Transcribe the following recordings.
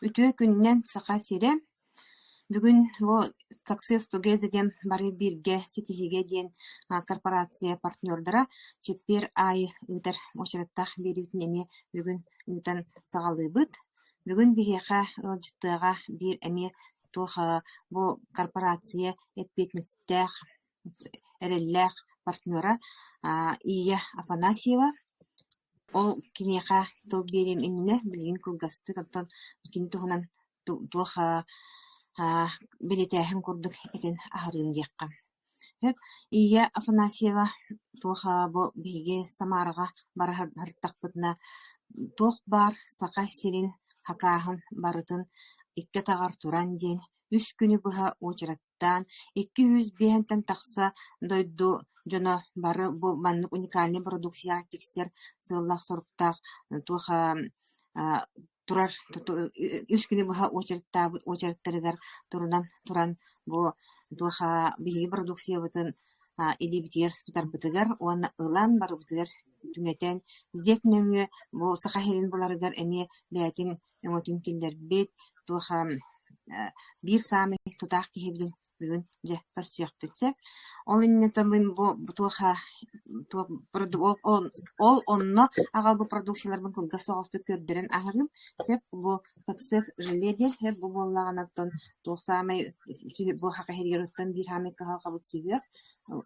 Үтүө күнүнэн, Саха сирэ! Бүгүн бу «Success Together» диэн бары бииргэ ситиһиигэ диэн корпорация партнердара чэппиэр аайы ыытар уочараттаах биэриитин эмиэ бүгүн ыытан саҕалыыбыт. Бүгүн биһиэхэ ыалдьыттыаҕа биир эмиэ туох бу корпорация эппиэтинэстээх эрэллээх партнера Ия Афанасьева. Ол киниэхэ тыл биэриэм иннинэ билигин кылгастык, оттон кини туһунан туох бэлиэтээһин курдук этин аһарыым диэххэ. Сөп. Ия Афанасьева туох бу биһиги Самараҕа бара сырыттахпытына туох баар Саха сирин хакааһын барытын икки атаҕар туран диэн үс күнү быһа уочарат куттаан, икки сүүс биэһинтэн тахса дойду дьоно бары бу маннык уникальнай бородууксуйаҕа тиксэр сыаллаах-соруктаах туох турар үс күнү быһа очередтаабыт очередтарыгар турунан туран бу туох биһиги бородууксуйабытын илиибитигэр тутарбытыгар уонна ылан барыбытыгар түҥэтэн сдек нөҥүө бу саха сирин буларыгар эмиэ бэйэтин өҥөтүн киллэрбит, туоха биир саамай тутаах киһибин бүгүн дьэ көрсүөхпүт сөп. Ол иннинэ бу туоха ол онно аҕалбыт продукцияларбын кылгас соҕустук көрдөрөн аһарыым. Сөп бу success желе диэн сөп бу буоллаҕына оттон туох саамай бу хахаһирируттан биир саамай кыһалҕабыт сүһүөх,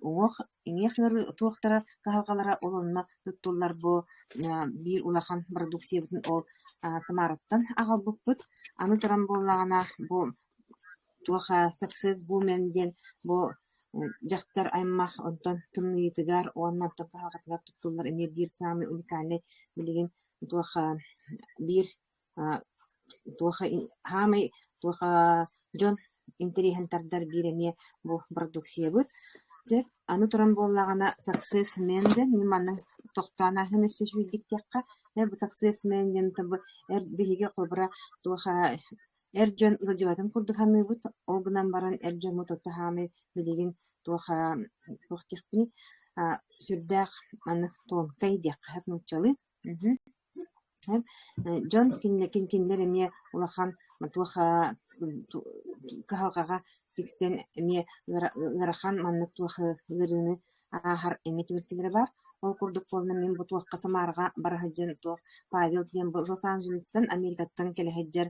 уҥуох иҥиэх ыарыы туохтара кыһалҕалара ол онно туттуллар буо биир улахан продукциябытын ол Самараттан аҕалбыппыт аны туран буоллаҕына бу туоха саксес бумен диэн бу дьахтар аймах онтон тымныйытыгар уонна онтон кыһалҕатыгар туттуллар эмиэ биир саамай уникальнай билигин туоха биир туоха саамай туоха дьон интэриэһин тардар биир эмиэ бу продукциябыт сөп аны туран буоллаҕына саксес мен дэн мин маннык тохтоон аһым өссө сүүйдүктиэххэ ээ бу саксес мен диэн эр биһиги холобура туоха эр дьон ыалдьыбатын курдук саныыбыт ол гынан баран эр дьоҥҥут оту саамай билигин туоха туох диэхпиний сүрдээх маннык туомкай диэххэ нууччалыы Дьон кинилэрин кинилэр эмиэ улахан туох кыһалҕаҕа тиксэн эмиэ ыарахан маннык туох ыарыыны ааһар эмиэ түбэлтэлэрэ баар. Ол курдук буолла мин бу туохха Самараҕа бара сылдьан туох Павел диэн бу Лос-Анджелестан Америкаттан кэлэһэйдэр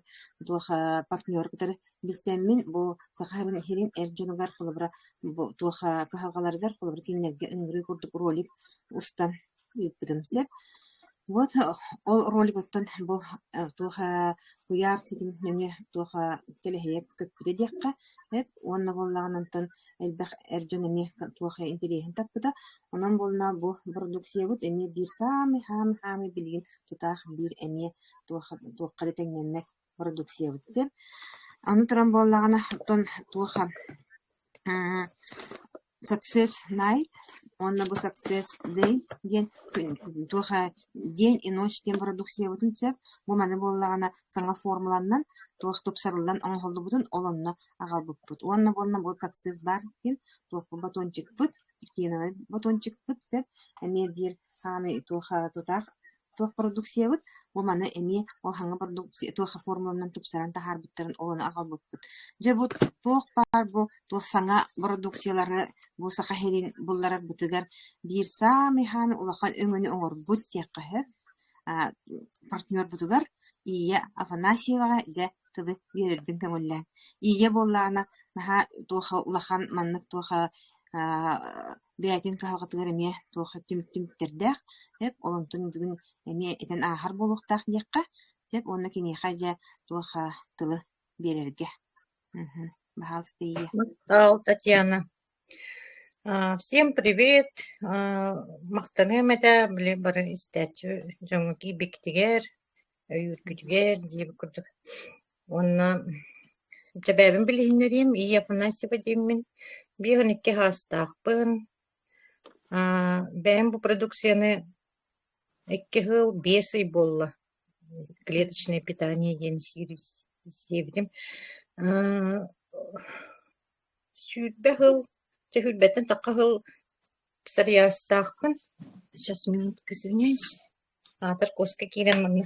туох партнер кытары билсэммин бу Саха сирин эр дьонугар холобура бу туох кыһалҕаларыгар холобура кинилэргэ ыҥырыы курдук ролик устан ыыппытым сөп. Вот ол ролигуттан бу туох куйаар ситим нөҥүө туох тэлэһийэ көппүтэ диэххэ сөп уонна буоллаҕына онтон элбэх эр дьон эмиэ туох интэриэһин таппыта. Онон буолла бу продукциябыт эмиэ биир саамай хаамай-хаамай билигин тутаах биир эмиэ туохха да тэҥнэммэт продуксыйабыт диэн. Аны туран буоллаҕына, оттон туоха аа success night уонна бу success day диэн туоха день и ночь диэн бородууксуйабытын сөп. Бу маны буоллаҕына саҥа формуланан туох тупсарыллан оҥоһуллубутун ол онно аҕалбыппыт. Уонна буолла бу success бар диэн туохпут батончикпыт, киновый батончикпыт сөп. Эмиэ биир хаамый туоха тутаах Туох продукциябыт, бу маны эмиэ ол хаҥа продукция туох формуланан тупсаран таһаарбыттарын олону аҕалбыппыт. Дьэ бу туох баар бу туох саҥа бородууксуйалары бу Саха сирин булларарбытыгар биир саамай хаан улахан өҥөнү оҥорбут диэххэ сөп. Аа, партнербутугар Ия Афанасьеваҕа дьэ тылы биэрэрбин көҥүллээн. Ия буоллаҕына наһаа туоха улахан маннык туоха аа бэйэтин кыһалҕатыгар эмиэ туох түмүк түмүктэрдээх, сөп, олонтон бүгүн эмиэ этэн ааһар буолуохтаах диэххэ сөп уонна киниэхэ дьэ туох а, тылы биэрэргэ. Мгм. Пожалуйста, Ия. Мактал, Татьяна. А, Всем привет! А, Махтаныам этэ били бары истээччи дьоҥҥо киирбикитигэр, өйүүргүтүгэр дии курдук. Уонна дьэ бэйэбин билиһиннэриим, ии Афанасьева дииммин, биир он икки саастаахпын. Аа, бэйэм бу продукцияны икки хыл биэс ый буолла клеточное питание диэн сиэбитим. Аа, сүүрбэ хыл, сүүрбэттэн такка хыл сарыйаастаахпын. Сейчас, минутка, извиняюсь. Аатар Костя киирэн манна.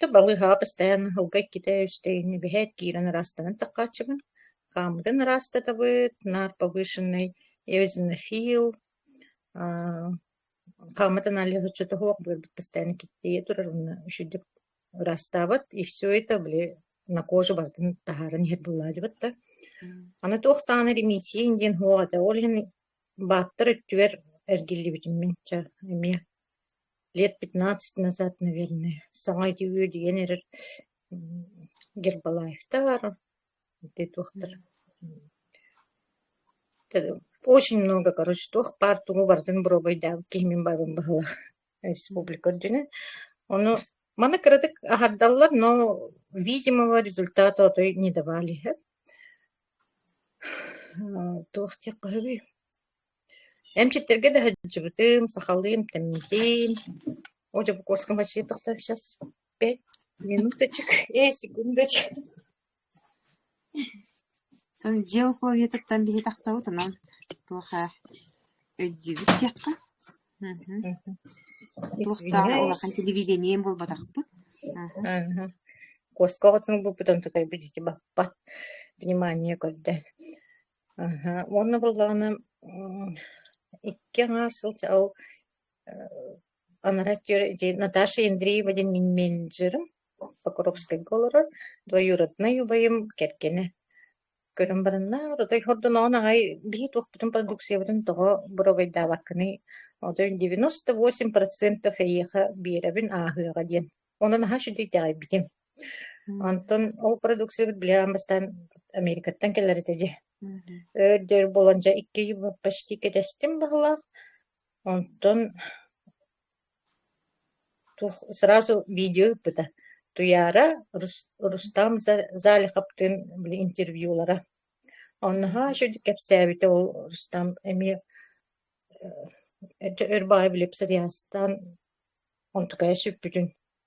Да балыыһаҕа бастайан аһылга иккитэ-үстэ инни биһээт киирэн ыраастанан таккааччыбын, хаамытын ыраастатабыт, наар повышенный eosinophil, аа хаамытын алыһыччы тоһуох быарбыт бастайан киттийэ турар уонна үчүдүк ыраастаабыт, и все это били на кожу бартын таһааран иһэр буолаадыбыт да. Аны туохтаан ремиссиин диэн һуох этэ, ол иһин бааттар өттүгэр эргиллибитим мин ча эмиэ лет пятнадцать назад наверное саҥа ити үөдүйэн эрэр гербалаевтар туохтар очень много короче туох баар тугу барытын боруобайдаабыт киһи мин баабым баһылаах республика үрдүнэн ону маны кыратык аһардаллар но видимого результата отой не давали туох диэх көһөбүй Эмчиттэргэ да сылдьыбытым, сахалыым тэмитин, ол Дьокуускаҕа вообще тохтоох сейчас пять минуточек, э секундочек. Сон дьиэ условиетыттан биһи тахсабыт онон туоха өйдүүбүт диэххэ. Мгм. Туохтаах улахан телевидением буолбатахпыт. Аха. Куоска оҕотун булбут онтукайбыт ити баппат внимание көрдөөн. Аһа, уонна буоллаҕына м, икки аҥаар сылдьа ол анараа өттүгэр ити Наташа Андреева диэн мин менеджерым Покровскайга олорор двоюроднай убайым кэргэнэ көрөн баранна отой хордоноон аҕай бии туохпутун продукциябытын тоҕо боруобайдаабаккыный отой девяносто восемь процентов эйиэхэ биэрэбин ааһыаҕа диэн онон наһаа үчүгэйдик итэҕэйбитим Онтон ол продукциябыт били аан бастаан Америкаттан кэлэр этэ дьэ. Өр да өр буолан дьэ икки ыйы почти кэтэстим баһылаах. Онтон туох сразу видео ыыппыта. Туйаара Рус- Рустам За- Залиховтыын били интервьюлара. Оннаһаа үчүгэй кэпсээбитэ ол Рустам эмиэ э, өр баҕайы били псориазтаан онтукайа сүппүтүн.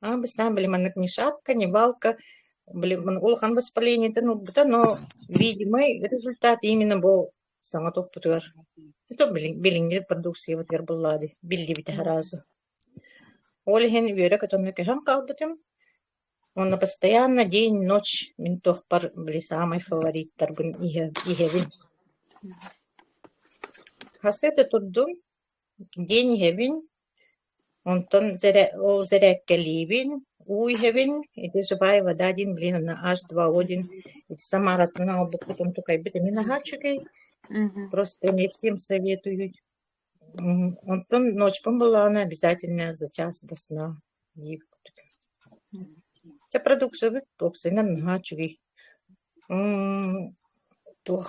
Обычно были мы Нагнишатка, Невалка, были улахан воспалениетын ылбыта, но, видимый, результат именно бу саҥа туппутугар. Ito bilin bilingir продукциябытыгар буллаади биллибитэ разу. Ол иһин үөрэ көтөҥҥө көһөн хаалбытым. Уонна постоянно день-ночь мин туохпар били саамай фавориттарбын иһэ- иһэбин. Хас это турдум, день иһэбин, Онтон ол зирээккэлиибин, уу иһэбин, ити живая вода диин билин онно H2O диин ити Самараттан оҥорбуппутун тукайбыт эми наһаа үчүгэй, просто эмиэ всем советуют. Онтон ночкам буоллаҕына обязательно за час до сна диибит. Чэ продукциябыт уопсайынан наһаа үчүгэй. Туох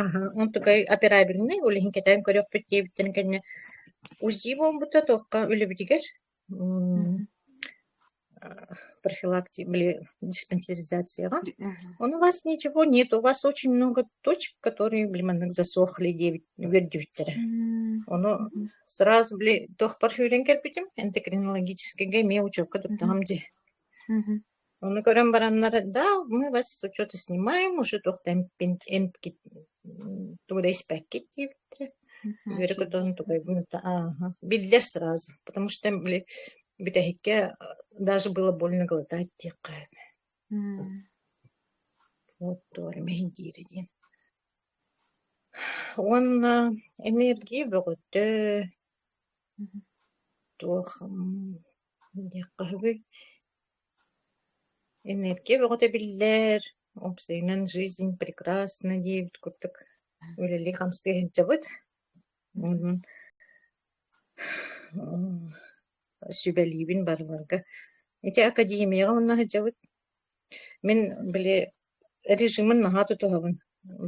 Аһа, онтукай операбельнай, ол иһин кэтээн көрүөхпүт диэбиттэрин кэннэ УЗИ буолбута туохха үлэбитигэр м, э, профилакти или диспансеризацияҕа. Он у вас ничего нет, у вас очень много точек, которые, блин, засохли диэбит үгэрдибиттэрэ. Ону сразу, били, туох парфюрен кэлбитим, эндокринологическайга эмиэ учуокка туттаҕам дии. Ону көрөн бараннар, да, мы вас что-то снимаем, уже тохтампин эмпкит туда испэккит диэбиттэрэ. Мгм. Үөрэ көтөн тугайбын да ага биллэр сразу, потому что были бүтэһиккэ даже было больно глотать диэххэ эбэ. М. Вот туора мэһин диири диэн. Уонна энергия бөҕөттө Мгм. туох м, диэххэ үһүгүй? Энергия бөҕөтө биллэр, умсугунан жизнь прекрасна диэбит курдук үлэлии-хамсыы сылдьабыт. Мм сүбэлиибин барыларга. Ити академияҕа онно сылдьабыт. Мин били режимин наһаа тутуһабын.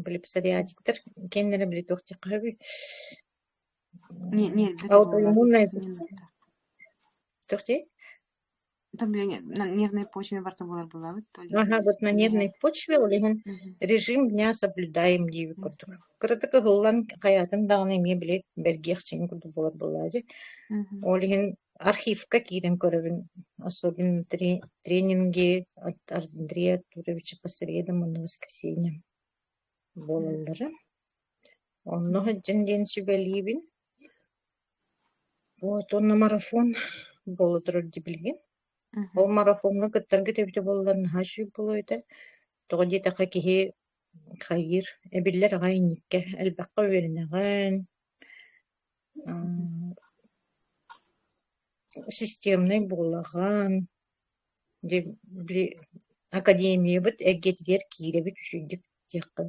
Били псориатиктар киэннэрэ били туох диэххэ сөбүй? Не не это Аутоиммунная туох диэй? на нервной почве барта буолар буолабыт то ли Ага, вот на нервной почве ол иһин режим дня соблюдаем диир курдук. Кыратык ыһыллан хайаатын даҕаны эмиэ били бэргиэхчиин курдук буолар буоллаа дии. Ол иһин архивка киирэн көрөбүн, особенно три тренинги от Андрея Туровича по средам и на воскресенье буолаллара. Онно сылдьан диэн сүбэлиибин. Вот уонна марафон буола турар дии билигин. Ол марафоҥҥа кыттаргыт эбитэ буоллар наһаа сүп буолуо этэ. Тоҕо диэтэххэ киһи хайыыр, эбиллэр аҕай инниккэ. Элбэххэ үөрэнэҕин, м системнай буолаҕын, дьэ били академиябыт эйгэтигэр киирэбит үчүгэйдик диэххин.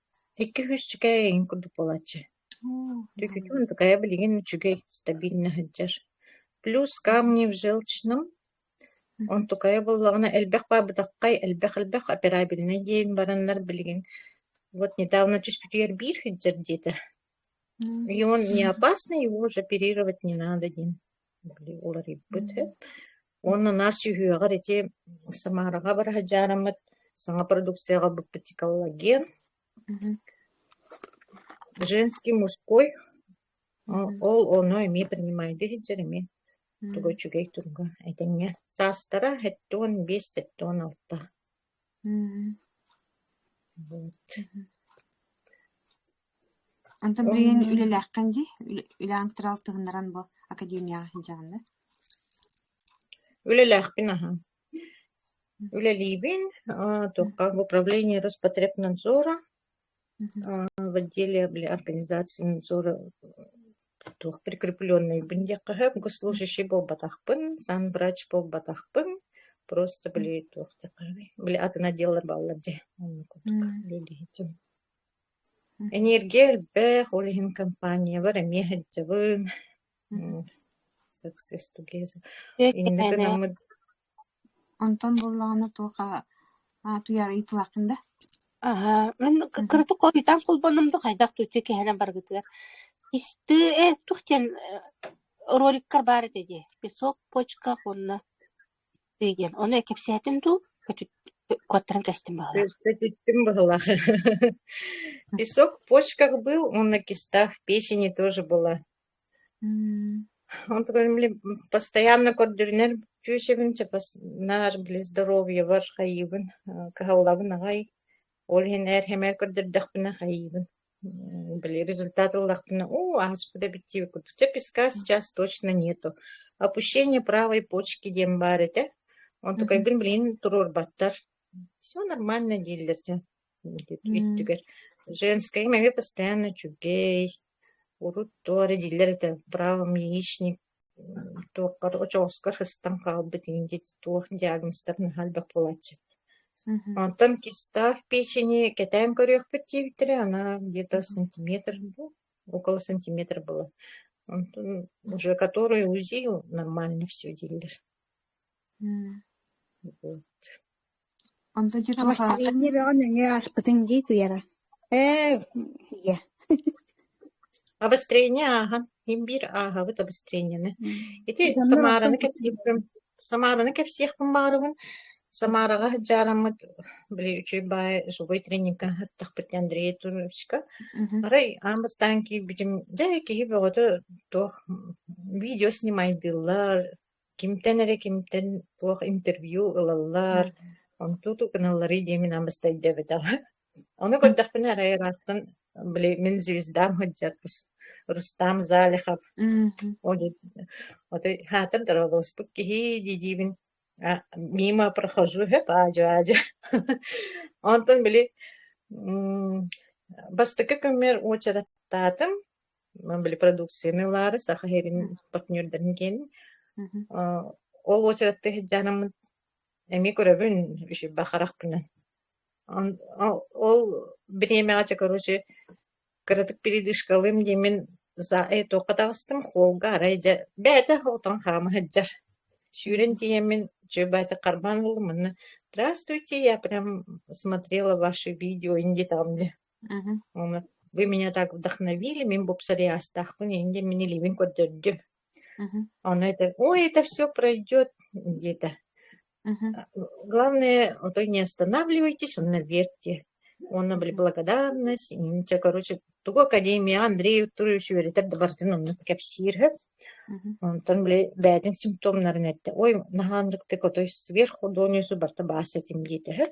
Икки-үһүс үчүгэй эйигин курдук буолааччы. Үчүгүтүн такая билигин үчүгэй, стабильно сылдьар. Плюс камни в желчном, онтукайа буоллаҕына элбэх баабытаххай, элбэх-элбэх операбельнай диэн бараннар билигин вот недавно түспүтүгэр биир сылдьар диэтэ. И он не опасный, его уже оперировать не надо диэн. уларыйбыт үһү. Уонна наш үһүөҕэр ити Самараҕа бара сыдьаараммыт саҥа продукцияҕа быппытикаллаген Мгм. женский мужской М, ол ону эмиэ принимайды сылдьар эмиэ Мгм. тугу үчүгэй туруга этэҥҥэ саастара сэттэ уон биэс сэттэ уон алта Онтон билигин үлэлээххин дии? Үлэҕин кытары алтыһыннаран бу академияҕа сылдьаҕын да? Үлэлээхпин, аха. Үлэлиибин, туохха в управлении Роспотребнадзора. в отделе или организации надзора туох прикрепленнайбын диэххэ сөп госслужащий буолбатахпын сан врач буолбатахпын просто били туох диэххэний били атын отделлар бааллар дьэ онно курдук үлэлиһитим энергия элбэх ол иһин компаниябар эмиэ сылдьабын success together инники гынаммыт Онтон буллаҕына туох утуйаары ыйытылааххын да? Аһа, мин кыратык хойутаан холбоннум да хайдах тутуй киһинэн баргытыгар. Кистыы, э, туох диэн роликтар баар этэ дии, песок, почка уонна тыы диэн. Ону кэпсээтин дуу, куоттаран кэстин баҕалаах. Көтүттүм баҕалаах. Песок в почках был, уонна киста в печени тоже была. Ол тугун били постоянно көрдөрүнэр үтүө сөбүн наар били здоровьебар хайыыбын, кыһаллабын аҕай. Ол иһин эр сэмээр көрдөрдөхпүнэ хайыыбын. Били результат ыллахпына уу ааспыта эбит диэбит курдук. Чэ песка сейчас точно нету. Опущение правой почки диэн баар этэ. Онтукайгын билигин туруорбаттар. Всё нормально дииллэр дьэ. Өттүгэр женскэйим эмиэ постоянно үчүгэй, урут туох эрэ дииллэр этэ правым яичник туоххар очоҕоскор ыстан хаалбыт инди туох диагнозтарын наһаа элбэх буолааччы. Мгм. Онтон кистаах печени кэтээн көрүөхпүт диэбиттэрэ, она где-то сантиметр ну, около сантиметр была. Онтон уже которую УЗИ нормально все дииллэр. М. Вот. Онто дьэ туох Бастаҥҥа бөҕөн нөҥүө ааспытыҥ дии туйара. Ээ, ийэ. Обострение ааһан, иһин биир ааһабыт обострениены. Ити Дьоннор Самараны оттон кэпсиэхпин Самараны кэпсиэхпин баҕарабын. Самараҕа сыдьаараммыт били үчүгэй баай субуй тренинга аттахпыт диэн Андрей Туровичка. мгм. Арай аан бастаан киирбитим, дьэ киһи бөҕөтө туох видео снимайдыыллар, кимтэн эрэ кимтэн туох интервью ылаллар, онтуту гыналларый диэн мин амыста өйдөөбөтөҕө. Ону көрдөхпүнэ арай ыраастан били мин звездам сылдьарбыс Рустам Залихов. Мм. Ол диэн ото хаатан торолоспут киһи дии-диибин а мимо прохожу хөп аадьо-аадьо онтон били м бастакы көмөр уочараттаатым Мабыли продукцияны ылаары саха сирин партнердарын киэн Мгм. аа ол уочаратта сыдьаанаммын эмиэ көрөбүн бишиба харахпынан он ол ол бириэмэҕэ короче кыратык передышкалыым диэмин за туохха таҕыстым холга арай дьэ бэйэтэ отон хаама сыдьар сүүрэн тиийэммин чөө баайта харбаан ыллым манна здравствуйте я прям смотрела ваши видео индиетаҕым дии Вы меня так вдохновили, мин бупсариастаахпын иһин диэн мин илиибин көрдөрдүм. Оно это, ой, это все пройдет где-то. Главное, то не останавливайтесь, он наверьте. Уонна благодарность, инчэ, короче, тугу академия Андрей Турович үөрэтэр да бардын онно кэпсиир хөп. Онтон били бэйэтин симптомнарын этте. Ой, наһаанрыктык отой сверху донюсу барта баас этим диете хөп.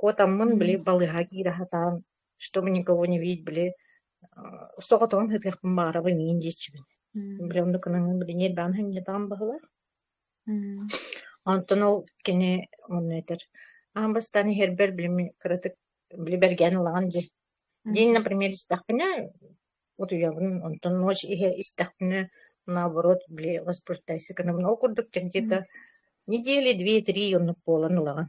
Куотаммын били балыыһа киирэ сатаан, чтобы никого не видеть били соҕотоҕун сытыахпын баҕарабын иин диэччибин. Мм. Били оннук гынан били ньирбэҕэ сынньатаҕым баһылар. Мм. Онтон ол кини манна этэр: "Аан бастаан иһэрбэр били мин кыратык били бэргээн ылаҕын дии. Диин, например, истэхпинэ утуйабын, онтон ночь иһэ истэхпинэ наоборот били воспрещайся гынабын". Ол курдук чэнчи да неделя две-три оннук буолан ылаҕын.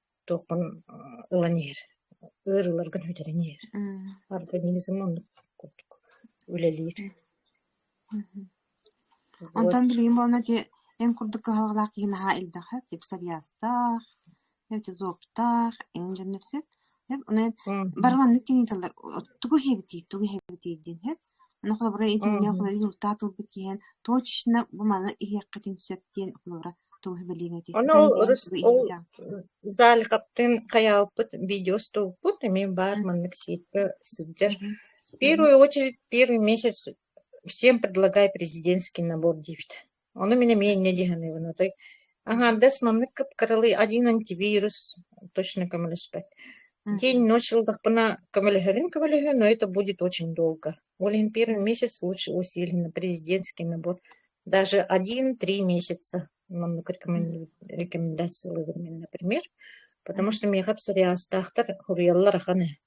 туохпун ылан иһэр, ыар ыларгын бүтэрэн иһэр. Организм оннук курдук үлэлиир. Онтон билигин буолна ити эн курдук кыһаллаах киһи наһаа элбэхэ гипсовиастаах, эти зуоптаах, эн дьон сөп. Барыланнык кини тыллар тугу хебитий, тугу хебитий диэн сөп. Ону холобура итиллэн Мм результат ылбыт киһинэн точечно бу маны иһиэххитин сөп диэн холобура тугу билиэҥ этий? Ону Кытайын ол бэйэҥ рус тугу ол иһиэҕиҥ? Заалихаптыын хайаалпыт видеостуукпут эмиэ баар Мгм. маннык сетька сылдьар. Мгм. Мгм. Первую очередь первый месяц всем предлагаю президентский набор диэбит. Ону мин эмиэ инньэ дии саныыбын отой аҥаардас маннык кыпкаралый один антивирус точно көмөлөспөт. День, ночь алдахпына көмөлөһөрүн көмөлөһө, но это будет очень долго. Ол иһин первый месяц лучше усиленно президентский набор. Даже один-три месяца маннык рекомендациялыыбын мин, например. Потому что миэхэ псориазтаахтар хоруйаллар ахан ээ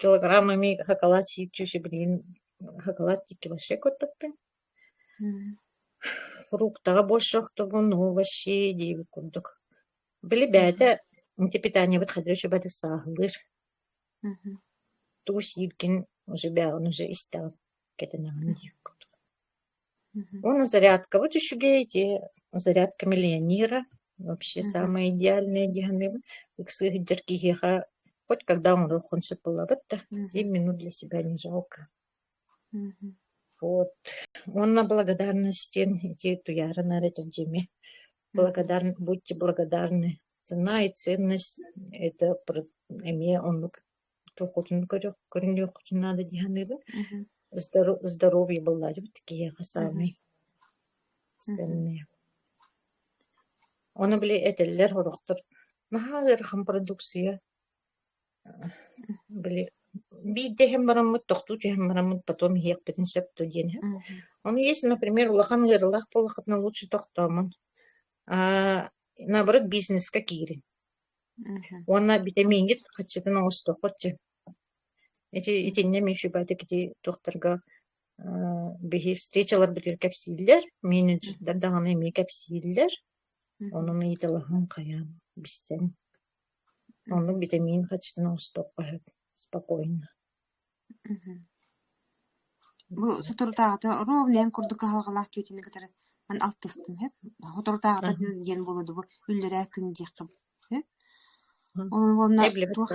килограмм эмиэ хакалат сииччүү сибилигин хакалат диэки вообще көтпөппүн фруктаҕа бу охтобун уу вообще диэбит курдук били бэйэтэ ити питаниябыт хадыра сүбэтик сааһылыыр тугу сииргин уже бэҕин уже истэҕин кэтэнэҕин диир курдук Ну, зарядкабыт үчүгэй ити зарядка миллионера вообще самые идеальные дианы ыксы сылдьар киһиэхэ хоть когда оҥоруоххун сөп буолабыт да семь минут для себя не жалко вот уонна благодарность диэн ити туйаарынар этэ дьиме благодарн будьте благодарны цена и ценность это эмиэ оннук туоххутун көрүөххүтүн наада дии саныыбын здоровье буллаачыбыт киһиэхэ саамай сэмнээх ону били этэллэр сорохтор наһаа ыарахан продукция били биирдэ иһэн бараммыт тохтуу түһэн бараммыт потом иһиэхпитин сөп дуо диэн иһэн ону если например улахан ыарыылаах буоллаххытына лучше тохтоомон наоборот бизнеска киирин Уонна битэмииҥҥит хаччытын оҥостуоххут син. Ити итиннэ муниципалитет ити туохтарга биһи встречаларбытыгар кэпсииллэр, менеджердар даҕаны эмиэ кэпсииллэр. Онон ыйыталаһан хайаан билсэн. Оннук битэмиин хаччытын оҥостуохха сөп спокойно. Бу соторутааҕыта ровненьын курдук кыһалҕалаах түөтүнү кытары мин алтыстым үһү. соторутааҕыта диэн буолуо дуу, үллэрээ күн диэххэ үһү. Ол уонна туох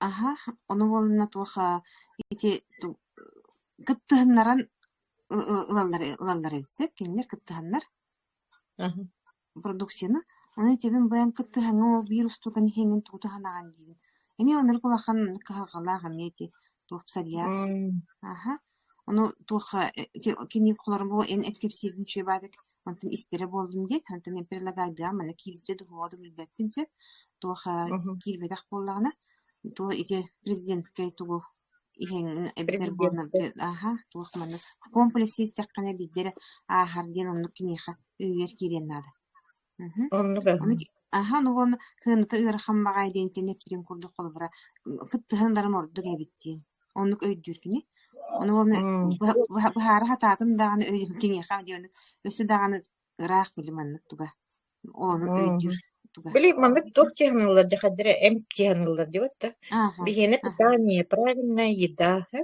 аһа, ону уонна туоха ити кыттыһыннаран ылаллары ылаллара сөп, кинилэр кыттыһаннар. Продукцияны аны итиэбин быйан кыттыһаҥҥа ол биир устууканы иһиҥҥин тугу туһанаҕын диибин. Эмиэ ылынарык улахан кыһалҕалаах эмиэ ити туох псориаз. Аха. Ону туохха ити кини холорума бу эн эт кэпсииргин үчүгэй баатык онтон истэрэ буоллун диэт онтон мен предлагайдаам мана киирбитэ да уһуоҕа да билбэппин сөп. Туох киирбэтэх буоллаҕына туох ити президентскэй тугу эбэтэр аһа туох манна комплекс истэххинэ биирдэ эрэ ааһар диэн оннук киниэхэ үөйэр киириэн наада оннук аһан уонна кыаната ыарахан баҕайы диэнтэн этиирин курдук холобура кыттыһан ыларым ордук эбит диэн оннук өйдүүр кини ону уонна быһаара сатаатын даҕаны киниэхэ өссө даҕаны Ыраах били маннык туга ону өйдүүр туга Били маннык туох чыһаныллар дехадыра эм чыһаныллар дивот да. Ага, Биһиэнэ ага. питание, правильная еда. э?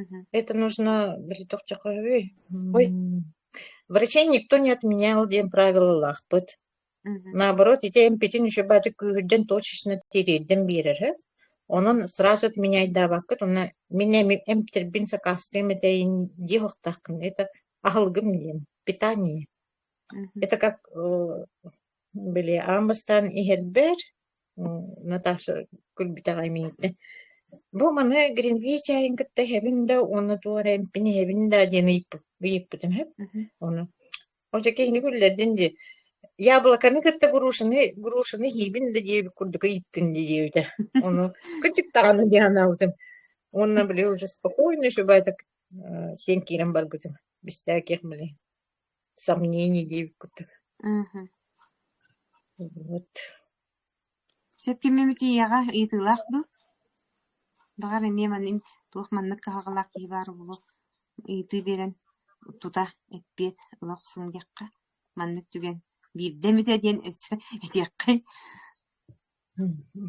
Мгм. Это нужно били тохчахови. Ой, М, врачей никто не отменял диэн правило лаахпыт. мгм. Наоборот, ити эмпитин еще баты күүһүрдэн точечно тириэрдэн биэрэр э? Онон сразу отменяйдаабаккыт, уонна мин эми эмтербин сакаастыам этэйин диэхохтахкын. Это Аһылгым диэн питание. Мгм. Это как э, были аам бастаан иһэрбэр Наташа күлбүтэҕэ имиийдэ. Бу маны Гринвей чаайын кытта иһэбин да уонна туох эрэ эмпин иһэбин да диэн ыйыппыт ыйыппытым үһү. Мгм. Ону. Ол дьэ киһини күллэрдин дии. Яблоканы кытта грушаны грушаны иһиибин да диэбит курдук ыйыттын дии диэбитэ. Ону кычыктаҕаны диэн анаабытым. Уонна били уже спокойно, чтобы это Э, син киирэн барбытым. Бистээ киэх мэлий сомнений диэбит курдук. Мгм. Вот. Сөп кимими тиийэҕэ ыйытыылаах дуу? Баҕар эмиэ манын туох маннык кыһалҕалаах киһи баар буолуо ыйытыы биэрэн тута эппиэт ыла охсун диэххэ. Маннык түгэн биирдэ эмитэ диэн өссө этиэххэй. Мгм.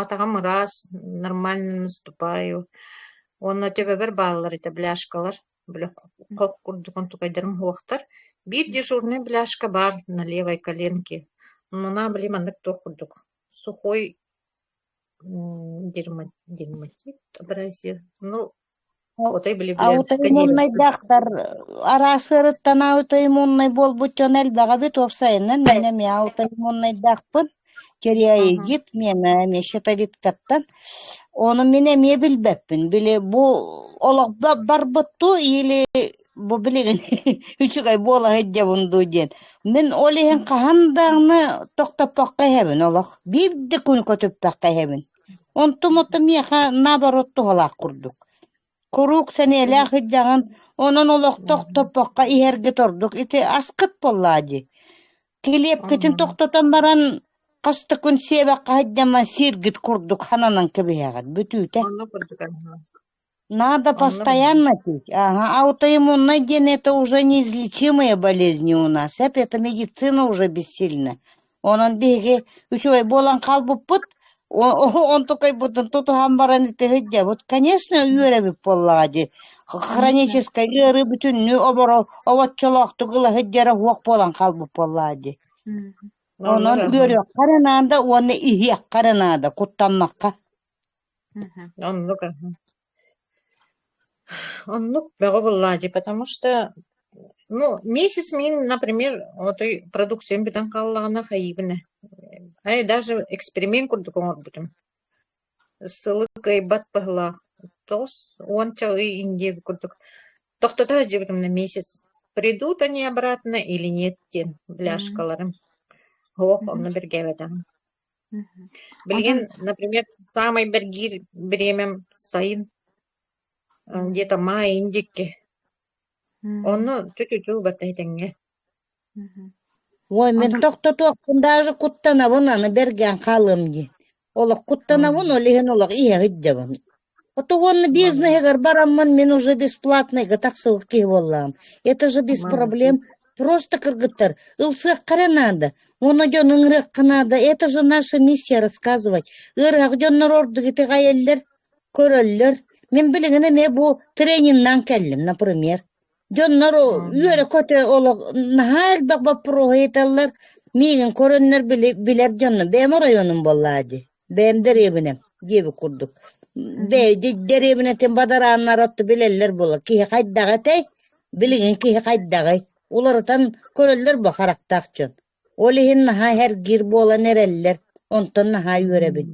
Атаҕым ыраас, нормально наступаю. Уонна төбөбөр бааллар этэ бляшкалар. Били хох курдук онтукайдарым суохтар. Биир дежурный бляшка баар на левой коленке. Мына били маннык туох курдук сухой м дерма дерматит образец. Ну Отой били билэн аутоиммуннайдаахтар араас ыарыттан аутоиммуннай буолбут дьон элбэҕэ эбит уопсайынан миэнэ миэ аутоиммуннайдаахпын тиреоигит миэмэ эмиэ щитовидкаттан ону мин эмиэ билбэппин били бу олох барбыттуу или бу билигин үчүгэй буолаһыт дьабын дуу диэн мин ол иһин хаһан даҕаны тохтоппокко иһэбин олох биир да күн көтүппэккэ иһэбин Онтум-онтум миэхэ наоборот туһалаах курдук. Куруук сэниэлээх ыйдьаҕын, онон олохтоох топпоххо иһэргит ордук ити аскыт буоллаа дии. Килиэпкитин тохтотон баран, хас да күн сиэбэккэ сылдьаммын сииргит курдук сананан кэбиһэҕит. Бүтүүтэ. Онно курдук аһа. Надо Анна постоянно пить. Ага. А аутоиммунная диены это уже неизлечимые болезни у нас. Эп это медицина уже бессильна. Онон биһиги үчүгэй буолан хаалбыппыт. Он только бутын тутуһан баран итиһит дьэ. Вот, конечно, үөрэбит буоллаҕа дии. Хроническай ыарыы бүтүннүү оборо овоччолоохтук ылаһыт дьэрэ хуох буолан хаалбыт буоллаҕа дии. Онон үөрүөххэ наада уонна иһиэххэ наада куттаннахха. Оннук оннук бөҕү быллаадьый, потому что ну месяц мин, например, отой продукциям бүтэн хааллаҕына хайыыбын ээ. Айа даже эксперимент курдук оҥорбутум. Сылы кыайбат быһылаах тоҕус уонча ый индиэ курдук тохтото сылдьыбытым да месяц. Придут они обратно или нет диэн пляжкаларым. Оһох онно бэргээбэтэҕим. Билигин, например, саамай бэргиир бириэмэм сайын, где-то маайын диэки. Онно чочу-чу убарта этэҥҥэ. Ой, мин тохтотуохпун даже куттанабын аны бэргээн хаалыам диэн. Олох куттанабын, ол иһин олох иһэҕит дьабын. Ото уонна бизнеһигэр бараммын, мин уже бесплатнайга тахсыбыт киһи буоллаҕым. Это же без проблем. Просто кыргыттар, ылсыахха эрэ наада. Ону дьон ыҥырыахха наада. Это же наша миссия рассказывать. Ыарыһах дьоннор ордук итэҕэйэллэр, көрөллөр. Мин билигин эмиэ бу трениннан кэллим, например. Дьоннору үөрэ-көтө олох наһаа элбэх боппуруоһу ыыталлар. Миигин көрөннөр били билэр дьоннор бэйэм оройуонум буоллаа дии. Бэйэм дэриэбинэм диэбит курдук. Мгм. Бэйди дэриэбинэтин бадарааннара отту билэллэр буолар. Киһи хайдах этэй? Билигин киһи хайдаҕый? Уларытан көрөллөр бу харахтаах дьон. Ол иһин наһаа эргиир буолан эрэллэр. Онтон наһаа үөрэбин.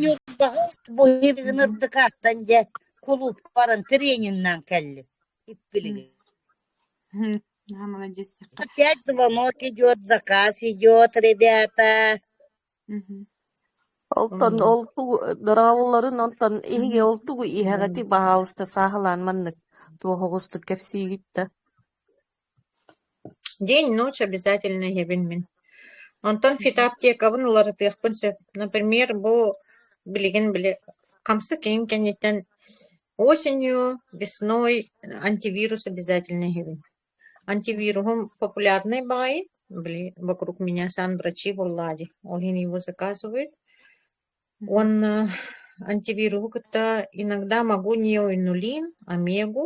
Ньурбаҕа bizim ырдыкааттан дьэ кулуупка баран трениннээн кэллим иппилигин. Опять звонок идет, заказ идет, ребята. Онтон ол тугу дораабылларын онтон иһиги ол тугу иһэҕити баһаалыста сааһылаан маннык туох оҕустук кэпсиигит да День, ночь обязательно эһэбин мин. Онтон фитоаптекабын уларытыахпын сөп. Например, бу билигин били хамсык иҥ кэнниттэн осенью, весной антивирус обязательно эһэбин. Антивируһум популярный баҕайы, били вокруг меня сам врачи буоллаа дии, ол иһин его заказывают. Уонна антивируһу кытта иногда могу неоинулин, омегу,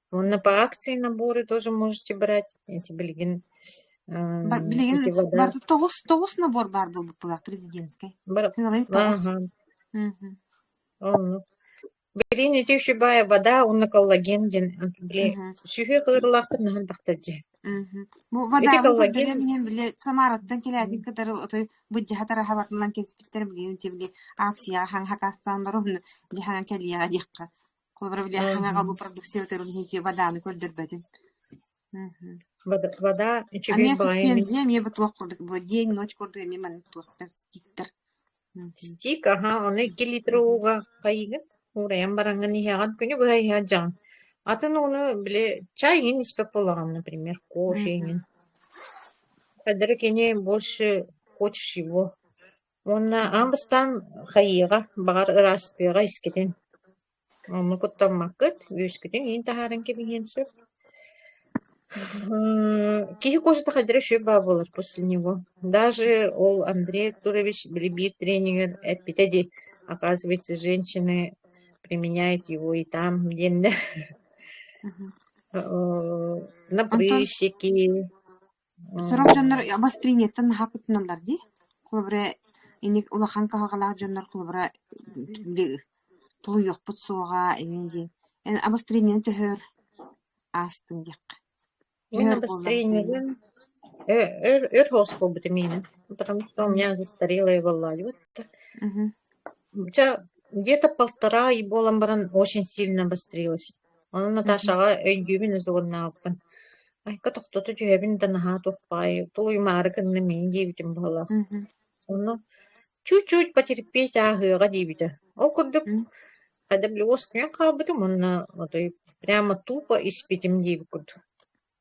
Ну, по акции наборы тоже можете брать. Эти билигин Бар билигин эти вода барда тоҕус тоҕус набор баар буолбутталаах президентскэй. Бар Финалай тоҕус. Ага. Мгм. Онно. Берините шибая вода уонна коллаген ден били Мгм. сүһүө кылырылаахтар наһан тахтар дьэ. Мгм. Бу водаҕа коллаген- билиэн били Самараттан кэлээтин кытары отой быддьаһатар аһабатынан кэбиспиттэр билигин ти били акцияҕа хаҥ хакаастааннары уһунна били хаҥа кэлиэҕэ диэххэ. стик аһа ону икки литр ууга хайыгын уурайан бараҥҥын иһэҕин күнү быһа иһэ дьаҥ атын ууну били чай иҥин испэт буолаҕын например кофе иҥин кэллэрэ кини больше хочешь его Уонна аан бастаан хайыаҕа, баҕар, ыраастыаҕа искитин. Онну куттаммаккыт, үөскүтүн иин таһааран кэбиһиэн сөп. Киһи косата хайдара үчүгэй баал буолар после него. Даже ол Андрей Артурович били биир тренигэр эппитэ дии, оказывается, женщины применяют его и там диэннэр. Напрыщики, Сорох дьоннор обострениеттан наһаа кыттыналлар дии, холобура инник улахан кыһалҕалаах дьоннор холобура тулуйуохпут суоҕа инин диэн. Эн обострениены төһөөр аастыҥ диэххэ. Мин обострениебын өр өр хоосхолбутум иинин, потому что у меня застарелое воллалио. Дьэ, где-то полтора ай буолан баран очень сильно обострилось. Онон Наташаҕа өйдүүбүн да суругуннаабаппын. Айка тохтото түһэбин да наһаа туох баҕайы тулуйумаары гынным ини диэбитим быһалаах. Мгм. Онно чуть-чуть потерпеть ааһыаҕа диэбитэ. Ол курдук М. adaблюоскунан хаалбытым уонна отой прямо тупо испитим диэбит курдук.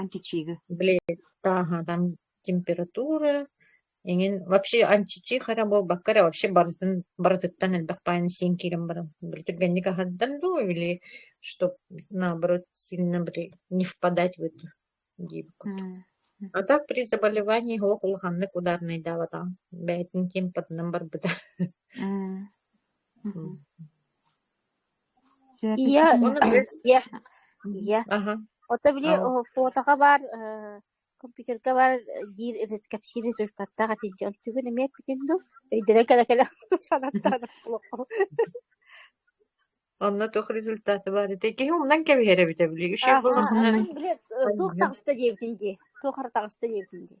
Античига Блин, ааһа, там температура эҥин вообще античиха эрэ буолбакка эрэ вообще барытын барытыттан элбэх баан сиэн киирэн баран били түргэнник аһардан дуу или чтоб наоборот сильно били не впадать в эту диэбит курдук. А так при заболевании олох улаханнык ударнайдаабатаҕым. Бэйэтин тиэмпатынан барбыта. М. Ийэ ийэ ийэ аха ото били аһ фотоҕа баар аһ компьютерга баар диир кэпсиир результаттаах этий дии онтугун эмиэ эппитин дуу өйдөнө кэлэ кэлэ санаттаан буолуоххун онно туох результаты баар этэй киһи умнан кэбиһэр эбитэ били үчүгэй буолуохтаах мин били туох таҕыста диэбитин дии туох эрэ таҕыста диэбитин дии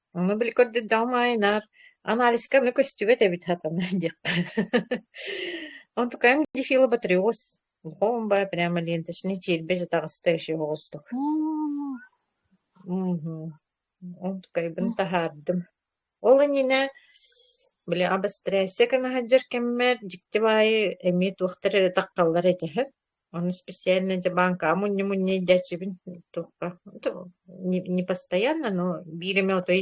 Ону били көрдөрдөҕүм аайы наар анализка аны көстүбэт эбит хатана диэххэ. Онтукаем Дефила Батриос Хоумба прямо ленточный чербе жатаҕастающий оҕустук. М, Мгм. Онтукайбын таһаардым. Ол иннинэ били абастрасия гына сылдьар кэммэр дьикти баайы эмиэ туохтар эрэ тахталлар этэ. Ону специально дьэ бааҥкаҕа мунньу-мунньу илдьээччибин туохха не постоянно, но биир эмэ отой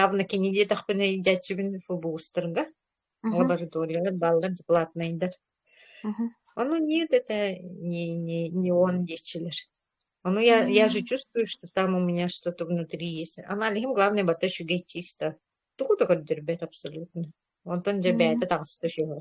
явно кини диэтэхпинэ илдьээччибин ФБУстарга Мгм. лабораториялар бааллар докладнайдар. Мгм. Ону нет, это не не не он диэччилэр. Ону я я же М. чувствую, что там у меня что-то внутри есть. Аналиһым главное бата үчүгэй чисто. Тугу да көрдөрбөт абсолютно. Онтон дьэ бэйэтэ М. таҕыста үчүгэй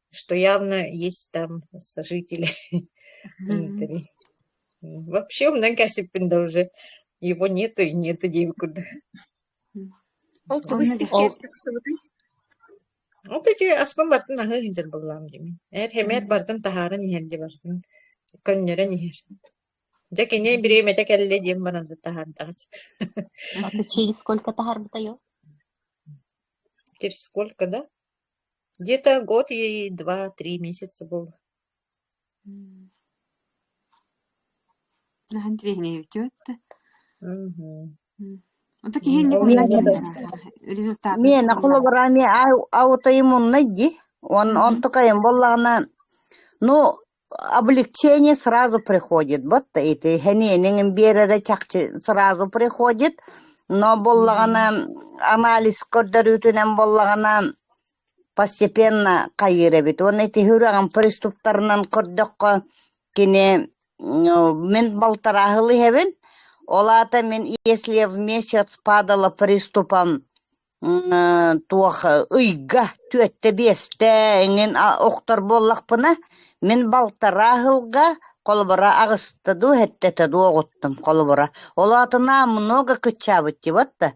что явно есть там сожители внутри. Вообще умнан кәсіппін да уже его нету и нету деген курдук. Ол тугу испиккер тахсыбытай? Ол течи аспын бартын аһы индер буллам дими. Эр хемет бартын таһарын иһерди бартын көннөрөн иһер. Дьэ кини бириэмэтэ кэллэ диэн баран таһардаҕыт. А ты через сколько таһарбытайо? Через сколько, да? Где-то год ей два-три месяца был. Наһан тренировки өттө. Мгм. Онто киһини Ол мен результат миэнэ холобура эмиэ аутоиммуннай ди. Он он тукайым буоллаҕына ну облегчение сразу приходит вот эти һэниэнин биэрэрэ чахчы сразу приходит но буоллаҕына анализ көрдөрүүтүнэн буоллаҕына постепенно хайыыр эбит уонна ити үрэҕин приступтарынан көрдөххө кини мин балтарааһыл иһэбин ол аата мин если вместе падала приступом туох ыйга түөртэ-биэстэ эҥин охтор буоллахпына, мин балтараа ыһылга холобура аҕыста дуу, эттэтэ дуу оҕуттум холобура. Ол аатынан много кыччаабыттиват да,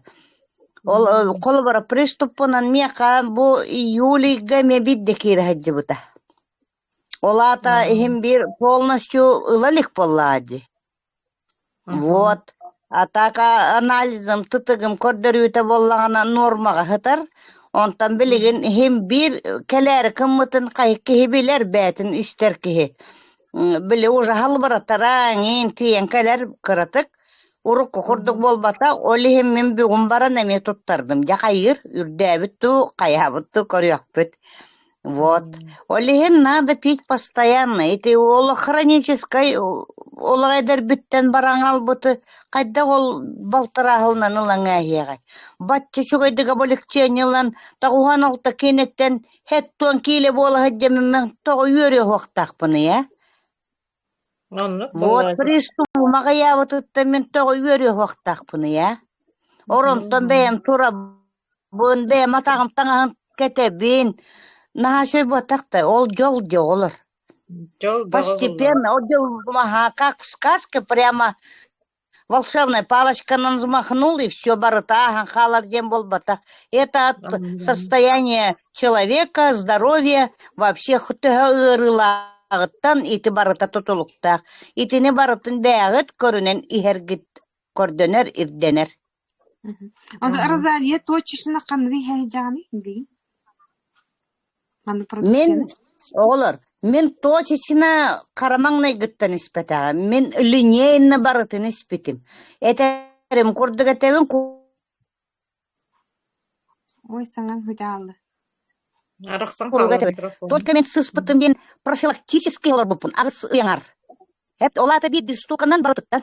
ол холобура приступпунан миэхэ бу июльга эмиэ биирдэ киирэ сылдьыбыта Ол аата иһим биир полностью ыла илик буоллаҕа дии. Вот. А так анализым, тытыгым көрдөрүүтэ буоллаҕына нуормаҕа сытар. Онтон билигин иһим биир кэлээри кыммытын хайык киһи билэр бэйэтин истэр киһи. М, Били уже халбыратара, эҥиин тиийэн кэлэр кыратык. Урукку курдук буолбата, ол иһин мин бүгүн баран эмиэ туттардым. Дьэ хайыыр, үрдээбит дуу, хайаабыт дуу көрүөхпүт. Вот. Ол иһин надо пить постоянно. Ити уол хроническай олох эдэрбиттэн баран аҕалбыты хайдах ол балтарааһылынан ылан ээһиэҕэй? Бачча үчүгэйдик облегчение ылан тоҕуһан алта киинэттэн хэттон киилэ буола сылдьаммын тоҕо үөрүө уһуохтаахпыный ээ? Вот пристуум аҕыйаабытыттан мин тоҕо үөрүөхтээхпиний ээ? Оронтон бэйэм турабын, бэйэм атаҕым таҥаһын кэтэбин. Наһаа сөп буотах да, ол дьол дьэ олор. Постепенно, ол дьыл маһака, кускаска прямо волшебная палочка нам взмахнул и все барыта аһан хаалар диэн буолбатах это от состояния человека здоровья вообще төһө ыарыылааҕыттан ити барыта тутулуктаах итини барытын бээҕит көрүнэн иһэргит көрдөнөр ирдэнэр Онтон Розалия туочишина ханна иһэйдэҕиний билигин? Маннык Мин, продукцияны оҕолор, мин туочичина хара маҥнайгыттан испэтэҕим. Мин линейно барытын испитим. Этэрим курдук этэбин Ой, саҥаҥ худаалла. Арахсан курдук хаалла да этим. гидрофон. Только мен сыыспытым диэн профилактический олорбуппун. Аҕыс ыйаҥар. Эт, ол аата биир биир штуканан барытыттан.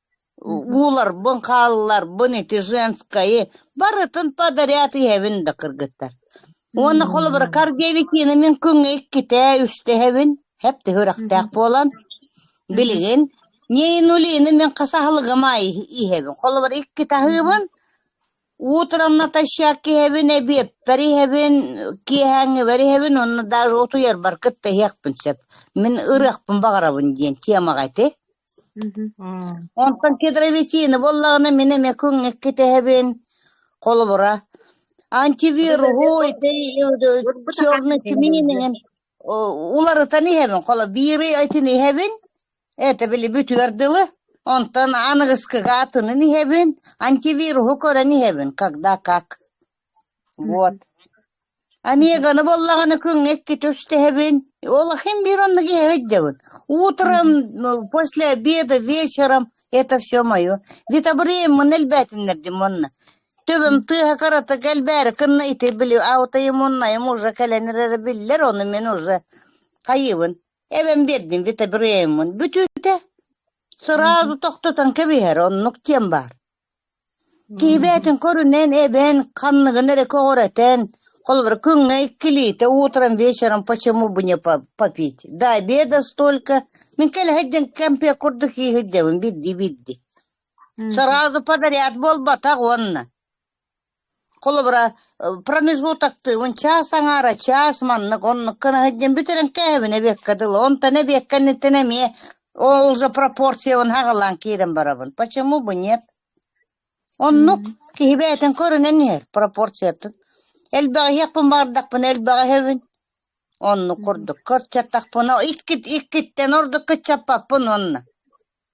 Ууларбын, хаалларбын ити женскайы барытын подарят иһэбин да кыргыттар. Уонна холобура Каргеви киинэ мин күҥҥэ иккитээ, үстэһэбин. Хэпти үрэхтээх буолан, билигин Нейнулины мин хас аһылыгым аайы иһэбин. Холобура иккитаһыыбын Утром натощак иһэбин, эбиэппэр иһэбин, киэһээҥҥибэр иһэбин уонна даже утуйарбар кытта иһиэхпин сөп. Мин ырыахпын баҕарабын диэн темаҕа ити. Онтон кедровитины буоллаҕына мин эмиэ күҥҥэкки итэһэбин холобура. Антивируһу, ити черный тменингин уларытан иһэбин холо биир ый итин иһэбин это били бүтүөр дылы онтон аныгыскыга атынын иһэбин антивируһу көрөн иһэбин когда как вот амиганы буоллаҕына күҥҥэ икки түстэһэбин ол ахын биир оннук иһэ өйдөбүн утром после обеда вечером это все мое ведь обрыым мын элбээтиннэрдим уонна Тыым тыаһа кыратык элбээри кынна ити били аутайым оннайым уже кэлэн эрэрэ биллэр ону мин уже хайыыбын эбэм биэрдин вите бырыйыммын бүтүүтэ сразу тохтотон кэбиһэр оннук диэн баар киһи бэйэтин көрүнэн эбэн ханныгын эрэ көҕүрэтэн холобура күҥҥэ иккилиитэ утром вечером почему бы не по- попить до обеда столько мин кэлэһэйдэн кэмпиэ курдук ииһирдэбин бидди бидди Сразу подряд буолбатах уонна холобура промежгут актыыбын чаас аҥаара чаас маннык оннук гынаһыт диэн бүтэрэн кээбин эбиэккэ дылы онтон эбиэккэ инниттэн эмиэ ол же пропорциябын хаҕылаан киирэн барабын почему бы нет оннук киһи бэйэтин көрүнэн иһэр пропорциятын элбэҕи иһиэхпин баардахпына элбэҕи иһэбин оннук курдук көрчөттөхпүнэ иккит иккиттэн ордук кыччаппаппын уонна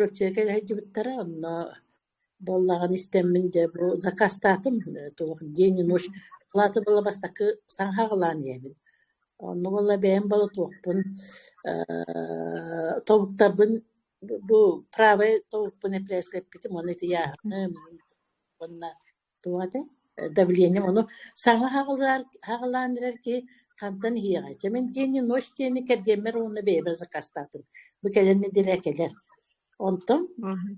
Ротчайка иһитдьыбыттара онно буоллаҕын истэммин дьэ бу закастаатым туох день и ночь палата была бастакы саҥаһаҕалаан иһэбин онно буолла бэйэм болотуохпун ээ тобуктарбын бу правай тобукпун эппитим уонна ити яһны уонна Туох этэ? Давлением ону саҥа хаҕылаан хаҕылаан эрэр киһи хантан иһиэҕэй? Чэ мин диэни ночь диэни кэргиэммэр уонна бэйэбэр закастаатым. Бу кэлэн нэдиэлэ кэлэр. Онтон Мгм.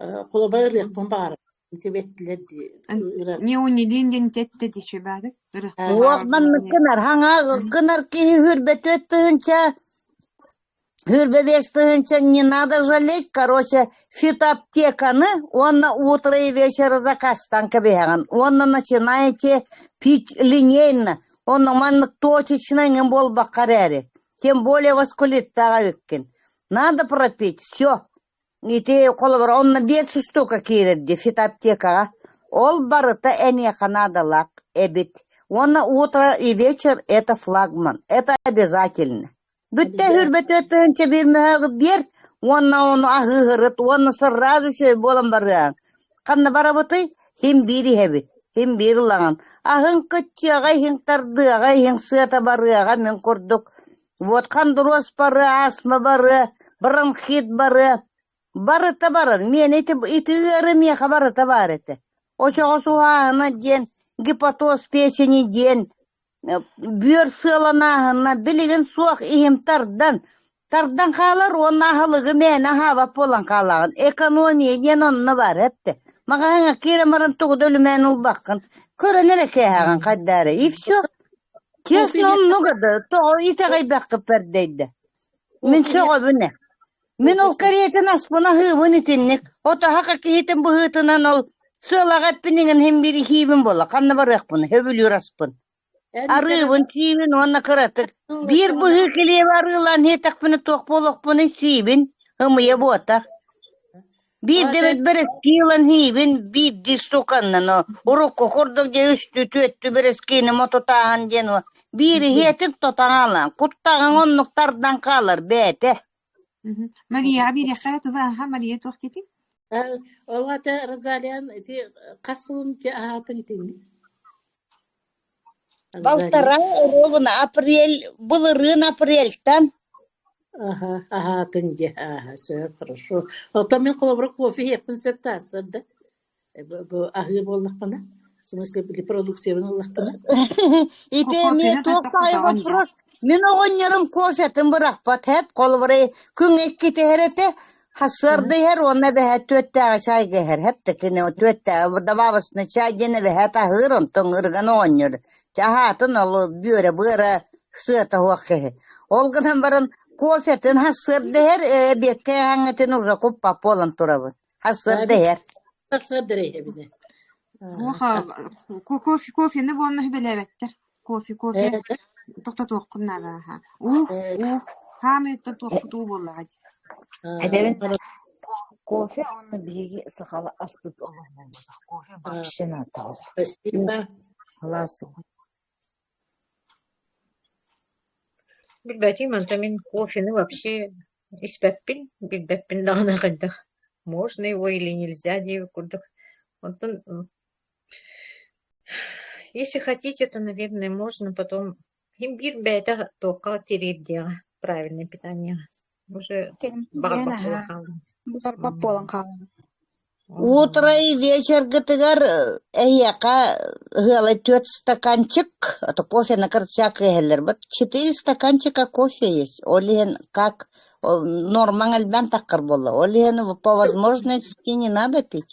э, холобур ырыахпын баҕарбатым сибэттилэр дии ырар Неунилин дин тетте тишебадык Уох манныккынар, хаҥа гынар киһи үрбөтүөт тыһынча Кырбэбиэс тыһыынча не надо жалеть, короче, фитоаптеканы уонна утро и вечер закастан кэбиһэҕин уонна начинаете пить линейно, онно маннык точечно иҥин буолбакка эрээри, тем более воскулиттаах эбиккин. Надо пропить, все. Ити холобур онно биэс штука киирэр дии фитоаптекаҕа. Ол барыта эниэхэ наадалаах эбит. Уонна утро и вечер – это флагман. Это обязательно. Бүттэ сүүрбэ түөрт тыһыынча биир мөһөөҕү биэр уонна ону аһыыһырыт уонна сырраас үчүгэй буолан барыаҥ. Ханна барабытый? Иһин биир иһэбит, иһин биир ылаҕын. Аһыҥ кыччыаҕа иһиҥ тардыаҕа иһиҥ сыата барыаҕа мин курдук. Вот хондуруос барыа, астма барыа, бронхит барыа. Барыта барар. Миэнэ ити, ити ыары миэхэ барыта баар этэ. Очоҕос уһааһына диэн, гипотоз печени диэн, Бүөр сыаланааһына билигин суох иһим тардан, тардан хаалар уонна аһылыгы мээнэ аһаабат буолан хаалаҕын, экономия диэн онно баар эттэ. Маҕаһыыҥҥа киирэн баран тугу да үлүмээн ылбаккын, көрөн эрэ кээһэҕин хайдара, и все. Честно, много да, тоҕо итэҕэйбэккэ пэрдэйдэ. Мин сөҕөбүн э Мин ол каретин аспын аһыыбын итинник. Отаһака киһитин быһыытынан ол сыалаҕа эппиниҥин иһин бириһиибин буолла. Ханна барыахпын? Сөбүлүүр аспын. Арыыбын, сиибин уонна кыратык. Биир быһыы килиэбэ арыылаан иһиэтэхпинэ туох буолуохпун сиибин, ымыйа буотах. Биирдэ бэрэски ылан иһиибин, биирдии стуканнан урукку курдук дьэ үстүү түөттүү бэрэскиини мотутааһын диэн биир иһиэтик тотаҕалаан, куттаҕаҥ оннук тардан хаалар бээтэ. Марияҕа биэриэххэ эрэ тылы ааһа Мария туох диэтиҥ? Эн ол ата Розалиан ити хас сылын ити аһаатыҥ итинник? Розалия Балтараа оруобуна апрель былырыын апрельтан Аһа, аһаатыҥ дии, ааһа, сөп, хорошо. Оттон мин холобура кофе иһиэхпин сөп таасыр да. аһыы буоллахпына в смысле репродукциябын ыллахпына итэмие туох таайы бопуруос мин оҕонньорум косатын бырахпат хэп холобура күн иккитиһэр этэ хасыардыһэр уонна бэһэ түөттээҕи чай кэһэр хэпте кини түөттээҕи добавочный чай диэн бэһэ таһыыр онтон ырган оҕонньор чаһаатын ол бүөрэ быара сыата хуох кэһэ ол гынан баран кофетын хасыардыһэр эбиэккэ ааҥытын уже куппап буолан турабыт Сарсыарда иһэр. Сарсыарда эрэ иһэбин. Муха кофе кофены буонна хүбэлээбэттэр. Кофе кофе тохтотуохкун наада аха. Уу уу хаамыыттан туохкут уу буоллаҕа дии. Эдэрин кофе онно биһиги сахала аспыт олоҕунан кофе вообще натаах. Спасибо. Халаас Билбэтим, онтон мин кофены вообще испэппин, билбэппин даҕаны хайдах можно его или нельзя диэбит курдук. Оттон если хотите, то, наверное, можно потом... Им биир бэйэтэ туохха тириэрдиэҕэ правильное питаниеҕа. баҕарбат буолан хааллым Буоларбат буолан хаалла. Утро и вечергытыгар э, эһиэхэ ыһыалай түөрт стаканчык, а то кофе на карточках иһэллэр. Вот четыре стаканчика кофе есть. Ол иһин как ол нормаҥ элбэн таххар буолла. Ол иһин по возможности не надо пить.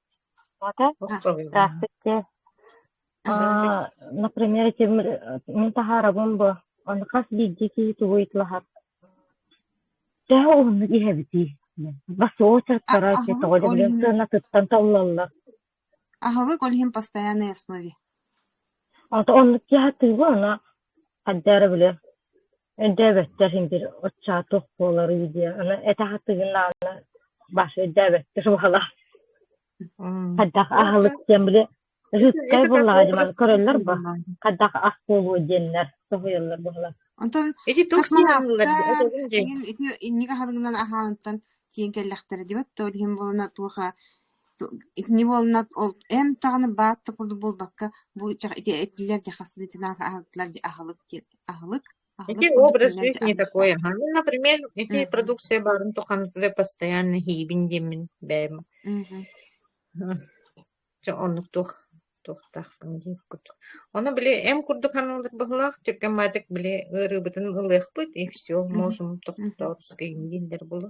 Аата ыраастык дьэ Например, этим мин таһаарабын бу ону хас биирдии киһи тугу ыйытылаһар Төһө уһуннук иһэбитий? Бас очерктара эти тоҕо да билэн сыанатыттан толлаллар. Аһылык ол иһин постоянной основе. Ата оннук киэһэ тыыбы ана хардьаара били өйдөөбөттөр синдир оччаа туох буоларуй диye ана этэх тыгынаана баш өйдөөбөттөр баҕалаах хаддах аһылык диэн били рыцарь буоллаҕа диман көрөллөр бо хаддах ах буолуо диэннэр соһуйаллар баҕалар онтон ити туох маааллар ити инники аһылыгынан аһааныттан киэн кэллэхтэрэ димат то иһин буолана туоха Итини буолла ол эн даҕаны баат да курдук буолбакка бу ыччах ити этилэр дьэ хас итинэн аһылыктылар дьэ аһылык диэн аһылык Ити курдук этилэр дьэ такое. Ну, например, эти продукция баарын тухан постоянно хийбин диэммин бэйэм. Оннук туох туохтаахпын диир курдук. Ону били эм курдук ханалар быһылаах түргэн баатык били ыарыыбытын ылыахпыт и все можем тохтоотскайым дииллэр булу.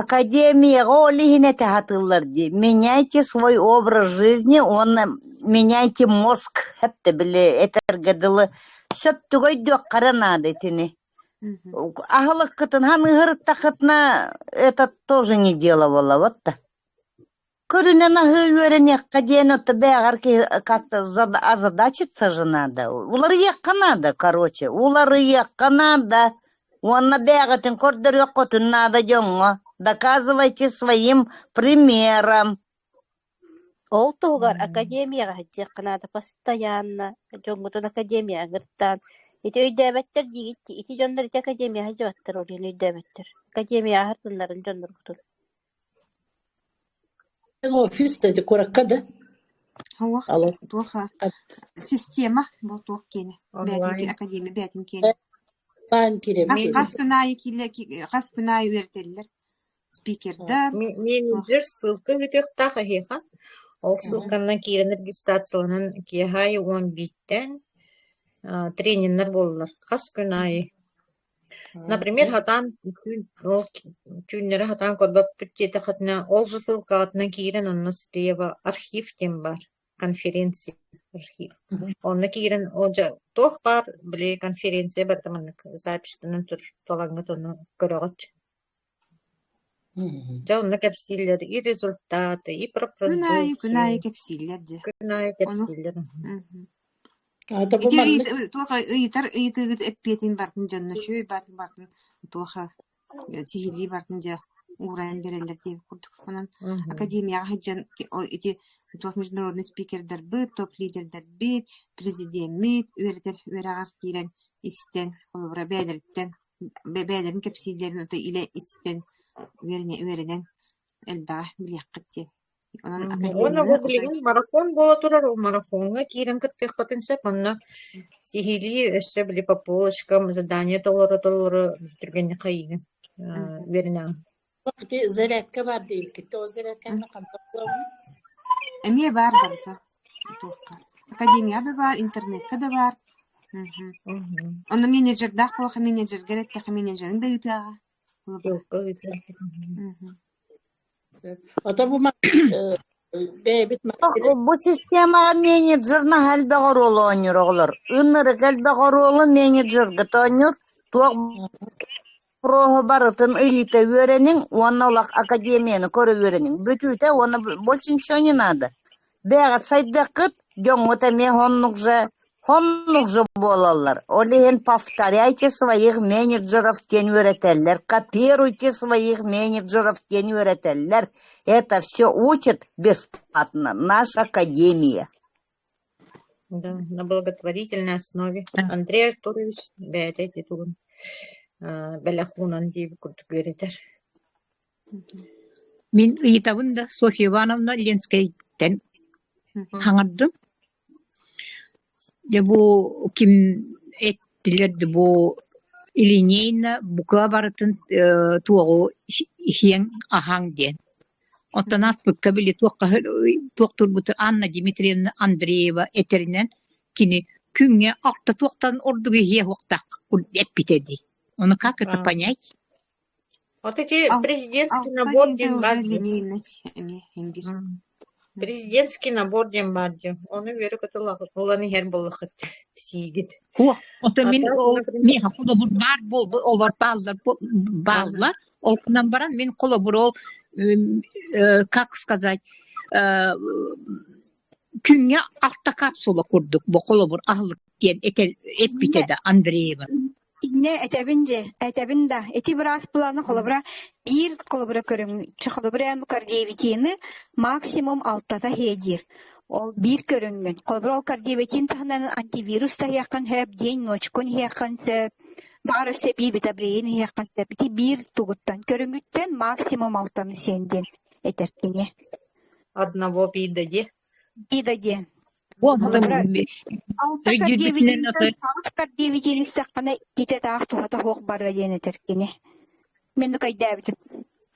Академияҕа ол иһин этэ сатыыллар дии «Меняйте свой образ жизни уонна меняйте мозг» этэ били этэргэ дылы сөптүгө өйдүөххэ наада итини аһылыккытын саныыртаххытына это тоже не дело буолабыт да Көрүнэн аһыы үөрэниэххэ диэн это бэҕэр киһи как-то зада- озадачиться же надо. Уларыйыахха наада, короче, уларыйыахха наада. Уонна бэйэҕитин көрдөрүөххүтүн наада дьоҥҥо. Доказывайте своим примером. Ол туһугар академияҕа сылдьыахха наада постоянно. Дьоҥҥутун академияҕа ыҥыртаан. Ити өйдөөбөттөр диигит, ити дьоннор ити академияҕа дьабаттар ол иһин өйдөөбөттөр. Академияҕа һардыннарын дьонноргутун. Офис да ити куоракка да Туох, Алло. туоха система бу туох киэнэ бээтин академия бээтин киэнэ онлайн кириэм хас хас күн аайы киилэ хас күн аайы үөрэтэллэр спикердар менеджер ссылка үһүтүөхтаах эһиэхэ ол ссылканан киирэн регистрацияланан киэһэ уон бииртэн тренердэр буоллулар хас күн аайы Например, сатаан түүннэри сатаан көрбөппүт диэтэххитинэ, ол же ссылкаҕытынан киирэн онно стрелево архив диэн баар, конференция архив. Онно киирэн ол же туох баар били конференция барыта маннык записьтанан туралаҥҥыт ону көрөҕүт. Дьэ онно кэпсииллэр и результаты, и про Күн аайы, күн продукцию. аайы кэпсииллэр дьэ. Күн аайы Ону кэпсииллэр. мгм. аата бу Ити маннык ыйыт- туох ыйытар ыйытыыгыт эппиэтин бартын дьонно үчүгэй баатын бартын туоха э, сиһилии бартын дьэ уурайан биэрэллэр диэн курдук онон Мгм. академияҕа сылдьан ки- о- ити туох международный спикердарбыт, топ-лидердэрбит, президеммит үөрэтэр үөрэҕэр киирэн истэн, холобура бэйэлэриттэн бэйэлэрин кэпсииллэрин ото илэ истэн үөрэнэ үөрэнэн элбэҕи билиэххит диэн онон уонна бу билигин марафон буола турар ол марафоҥҥа киирэн кыттыахпытын сөп онно сиһилии өссө били по полочкам задание толоро толоро түргэнник хайыыгын үөрэнэҕин Ити зарядка баар дии, иккитэ ол зарядканы хантан булабын? Эмиэ баар барыта. Туохха? Академия да баар, интернекка да баар. Мгм. Мгм. Онно менеджердаах буолаха, менеджергэр эттэхэ, менеджерин да ыытыаҕа. Булабын. Туохха ыытыаҕа? Мгм. Сөп. Ото бу ма- э, бэйэбит маркетинг Бу системаҕа менеджернаах элбэх оруолу оонньуур оҕолор. Ынырык элбэх оруолу менеджергэ тоонньуур. Туох ХРОһу барытын ыйыыта үөрэниҥ уонна олох академияны көрө үөрэниҥ. Бүтүүтэ уонна больше ничего не надо. Бэйэҕит сайдыаххыт, дьоҥҥут эмиэ хоннук же, хоннук же буолаллар. Ол иһин повторяйте своих менеджеров диэн үөрэтэллэр, копируйте своих менеджеров диэн үөрэтэллэр. Это все учит бесплатно наша академия. Да, на благотворительной основе Андрей Артурович бэйэтэ ити тугун аа бэлэх уунан диэбит курдук үөрэтэр Мин ыйытабын да Софья Ивановна Ленскэйтэн хаҥардым. Дьэ бу ким эттилэр да бу Ильинейна буква барытын э туоҕу иһиэҥ аһаҥ диэн Оттон ааспыкка били туох хаһы туох турбутун Анна Дмитриевна Андреева этэринэн кини күҥҥэ алта туохтан ордук иһиэ суохтаах эппитэ дии. Ону как это понять? Вот эти президентский набор Алфавита День Евгеньевна, Президентский набор диэн баар диэн, ону үөрэ көтө ылан иһэр буоллаххыт сиигит. О, ото мин ол миэхэ холобур баар буолбут олор бааллар бааллар ол кынан баран мин холобур ол как сказать күҥҥэ алта капсула курдук бу холобур аһылык диэн эппитэ да Андреева Иннэ этэбин дьэ, этэбин да, ити быраас былаана холобура биир холобура көрүҥчү, холобур эн бу кардиовитины максимум алтата иһэ диир. Ол биир көрүҥмүн. Холобура ол кардиовитин таһынан антивирус таһыйаххын сөп, день ночкун иһиэххин сөп, баар өссө бивитабрейин иһиэххин сөп. Ити биир тугуттан көрүҥүттэн максимум алтаны сиэн диэн этэр кини. Одного пида диэ. И да диэн. Бу онно Быыбара алтар өйдүүрбүтүнэн тардиэбитиниттэн атар таастар диэбитин истэххинэ ититэ таах туһата суох барыа диэн этэр кини. Мен ну кайдээбитим.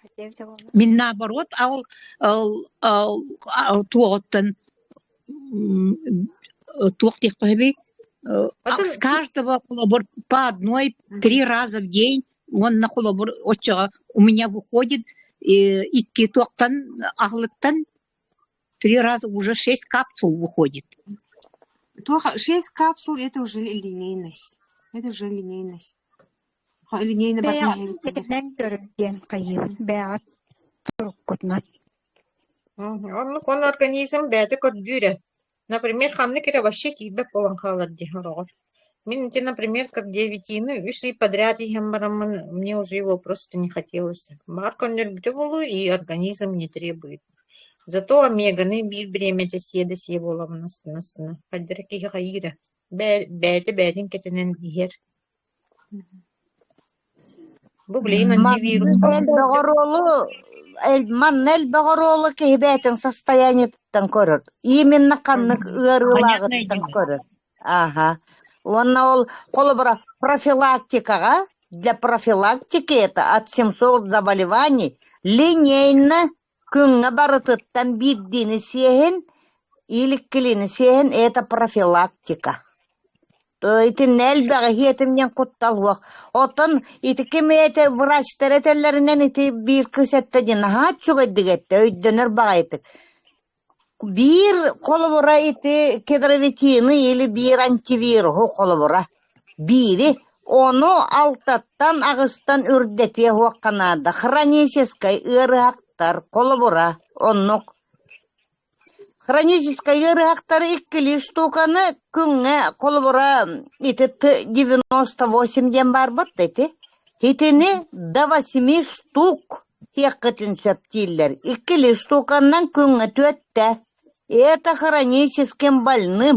Кайдээбитэ буолла? Мин наоборот ал ал ал ал туоҕуттан туох диэх хоһби Атын с каждого холобур по одной три раза в день уонна холобур оччоҕо у меня выходит икки туохтан аһылыктан Три раза уже шесть капсул выходит. Тоха, шесть капсул это уже линейность. Это уже линейность. Линейный бэйэҕит ситэтинэн көрөн диэн хайыыбын бэйэҕит туруккутунан Оннук он организм бэйэтэ көрдүүрэ. Например, ханнык эрэ вообще тиийбэт буолан хаалар дии, олоҕор. Мин ити, например, как девятины үс ый подряд иһэн бараммын, мне уже его просто не хотелось. Баар көрдөрбүтэ буолуо, и организм не требует. Зато омеганы биир бириэмэтэ сиэ да сиэ буоламмын астына-астына, хайда эрэ киһи хайыыра, бээ, бэйэтэ бэйэтин кэтэнэн иһэр Манна элбэх оруолу киһи бэйэтин состояниетыттан көрөр. Именно ханнык ыарыылааҕыттан көрөр. Ааха. Уонна ол холобура профилактикаҕа для профилактики это от 700 заболеваний линейно Кыымҥа барытыттан биирдиини сиэһин, ииликкилиини сиэһин – это профилактика. То итиннэ элбэҕи иһиэтим диэн куттал суох. Оттон ити ким этэ врачтар этэллэринэн ити биир кыыс эттэ дии наһаа үчүгэйдик эттэ, өйдөнөр баҕайытык. Биир холобура ити кедровитины или биир антивируһу холобура. Биири ону алтаттан аҕыстан үрдэтиэ уохха наада: хроническай ыарыһахтар, холобура, оннук. Хроническай ыарыһахтары иккилии штуканы күҥҥэ, холобура, ити т девяносто восемь диэн баарбыт да ити, итини до восьми штук диэххитин сөп дииллэр. Иккилии штуканнан күҥҥэ түөртэ. Это хроническим больным.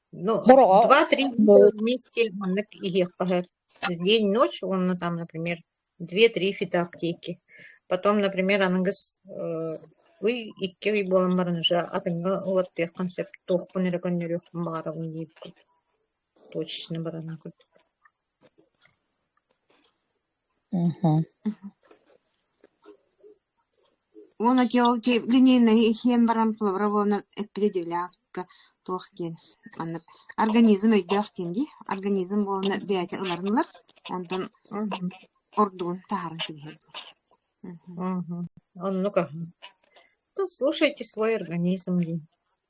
Ну, Бороҕо два-три дня вместе маннык иһиэххэ сөп. День, ночь уонна там, например, две-три фита аптеки. Потом, например, аныгыс э, ый икки ый буолан баран уже атыҥҥа уларытыаххын сөп. Туохпун эрэ көннөрүөхпүн баҕарабын диирбин. Точечно барана курдук. Уонна Георгий Глининэйи иһиэн баран плавровонан эппитэ диэбилээх ааспыкка туох диэн манна организм өйдөөх диэн дии организм буолана бэйэтэ ыларынылар онтон ордугун таһааран кэбиһэрдэ Мгм. Оннука. Ну, слушайте свой организм, Дин.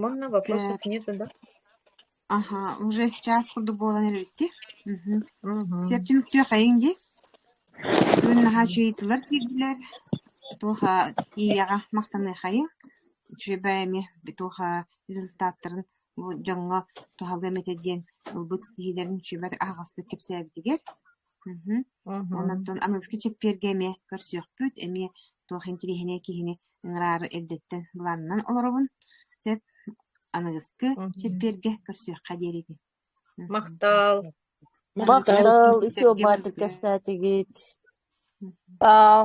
Манна вопросов нету, да? Аха, уже час курдук буолан эрбитти. Септин күтүөхэйиҥ ди. Бүгүн наһаа үчүгүйдилэр киирдилэр. Туоха ийэҕэ махтаныахайыҥ. Үчүгэй эмиэ туоха результаттарын бу дьоҥҥо туһалыам этэ диэн ылбыт ситиһиилэрин үчүгэйдик аһаҕастык кэпсээбитигэр. Мм онтон аныгыскы чэппиэргэ эмиэ көрсүөхпүт, эмиэ туох интириэһинэй киһини ыҥыраары эрдэттэн былаанынан олоробун. Сөп, аныгыскы чэппиэргэ көрсүөххэ диэри ити. Махтаал. Махтаал, үтүө баардык кэпсээтигит. Сау.